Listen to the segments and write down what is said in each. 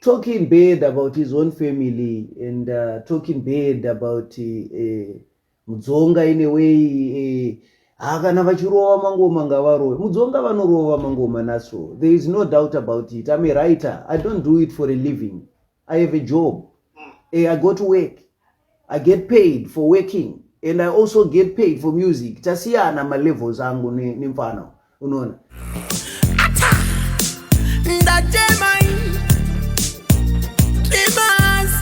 talking bad about his own family and uh, talking bad about uh, mudzonga in a way ha uh, kana vachirova mangoma ngavarove mudzonga vanorova mangoma naso there is no doubt about it i'm a writer i don't do it for a living I have a job. Mm. Eh, I go to work. I get paid for working and I also get paid for music. Tasiyana ma levels angu ni, ni mfano. Unaona? Ata! Ndajemai! Dreamers!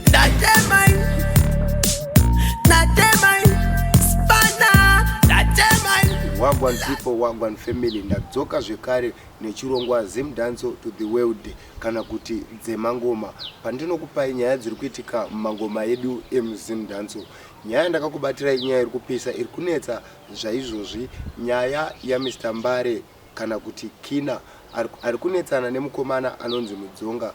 Ndajemai! Ndajemai! Spana! Ndajemai! Wagwan people, wagwan family. Ndadzoka zvekare nechirongwa Zim Danso to the world. Ndajemai! kana kuti dzemangoma pandinokupai nyaya dziri kuitika mumangoma edu emuzimdanso nyaya yandakakubatira inyaya iri kupisa iri kunetsa zvaizvozvi nyaya yamr mbare kana kuti kina ari kunetsana nemukomana anonzi mudzonga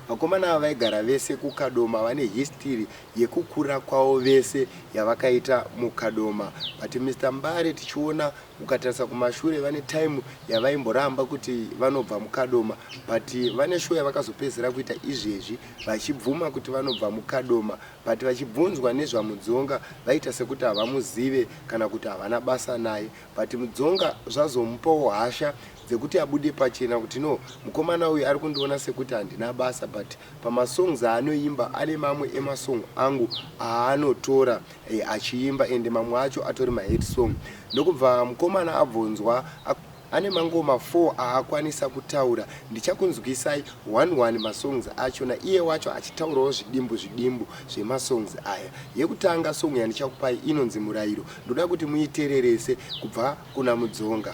vakomana ava vaigara vese kukadoma vane histiri yekukura kwavo vese yavakaita mukadoma but mr mbare tichiona Ukatarisa kumashure vane time yavaimboramba kuti vanobva muKadoma but vane show yavakazopedzera kuita izvezvi vachibvuma kuti vanobva muKadoma but vachibvunzwa nezvaMudzonga vaita sekuti havamuzive kana kuti havana basa naye but Mudzonga zvazomupawo hasha dzekuti abude pachena kuti no mukomana uyu ari kundiona sekuti handina basa but Pamasongs aanoimba ane mamwe emasong angu aanotora achiimba ende mamwe acho atori mahit song. Ndokubva mukomana abvonzwa ane mangoma four aakwanisa kutaura. Ndichakunzwisai one one masongs acho naiye wacho achitaurawo zvidimbu zvidimbu zvemasongs aya. Yekutanga song yandichakupai inonzi Murairo. Ndoda kuti muitererese kubva kuna Mudzonga.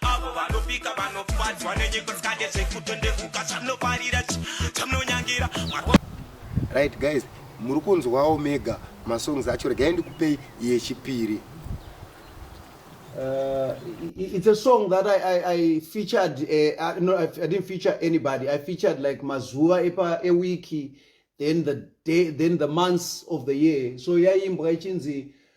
avo vanopika vanofadzwa nenyiko tsikande zvekutondevuka zvamunoparira zvamunonyangira right guys muri kunzwawo mega masongs acho regai ndikupei yechipiri Uh, it's a song that I, I, I featured. Uh, I, no, I, I didn't feature anybody. I featured like Mazuva Epa Ewiki, then the day, then the months of the year. So yeah, yaimbwa ichinzi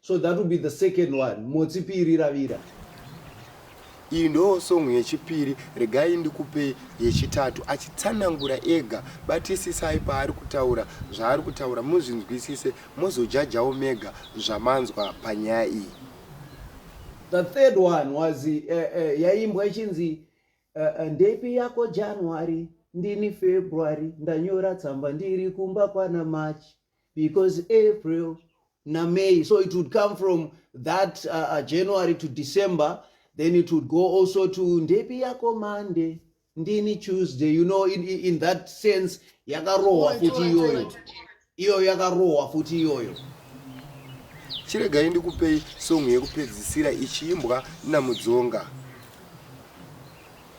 so that will be the second one motsi piri ravira iyi ndo song yechipiri regai ndikupe yechitatu achitsanangura ega batisisai paari kutaura zvaari kutaura muzvinzwisise mozojajawo mega zvamanzwa panyaya iyi the third one was uh, uh, yaimbwa ichinzi uh, eh, uh, ndepi yako january ndini february ndanyora tsamba ndiri kumba kwana march because april namay so it would come from that uh, uh, january to december then it would go also to ndepi yako monday ndini tuesday you know in, in that sense yakarohwa futi iyoyo iyoyo yakarohwa futi iyoyo chiregai ndikupei song yekupedzisira ichiimbwa namudzonga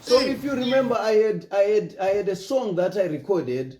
so if you remember I had, I, had, i had a song that i recorded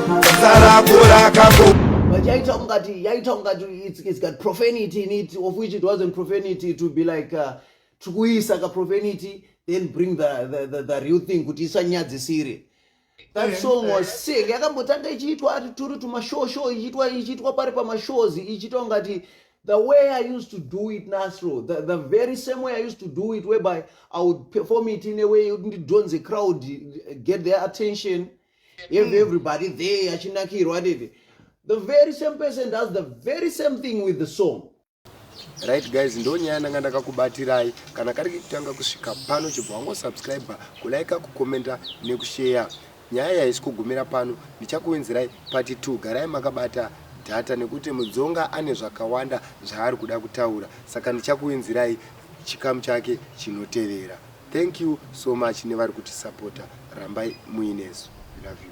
But yaita ungati, yaita ungati, it's, it's got profanity in it, of which it wasn't profanity to be like, uh, tikuisa ka profanity, then bring the, the, the, the real thing, kuti isanyadzisire. That eh, song was eh. sick. Yakambotanga ichiitwa ati turi tumashow show ichiitwa ichiitwa pari pamashows ichiitwa ungati the way I used to do it Nasro, the, the very same way I used to do it whereby I would perform it in a way yekuti ndidhonze crowd get their attention. If everybody there achinakirwa dede the very same person does the very same thing with the song right guys ndo nyaya ndanga ndakakubatirai kana kari kutanga kusvika pano chibva wangosubscribe kulaika kukomenta nekusheya nyaya yaisi kugumira pano ndichakuwenzerai pati 2 garai makabata data nekuti mudzonga ane zvakawanda zvaari kuda kutaura saka ndichakuwenzerai chikamu chake chinotevera Thank you so much nevari kutisapota rambai muinesu love you.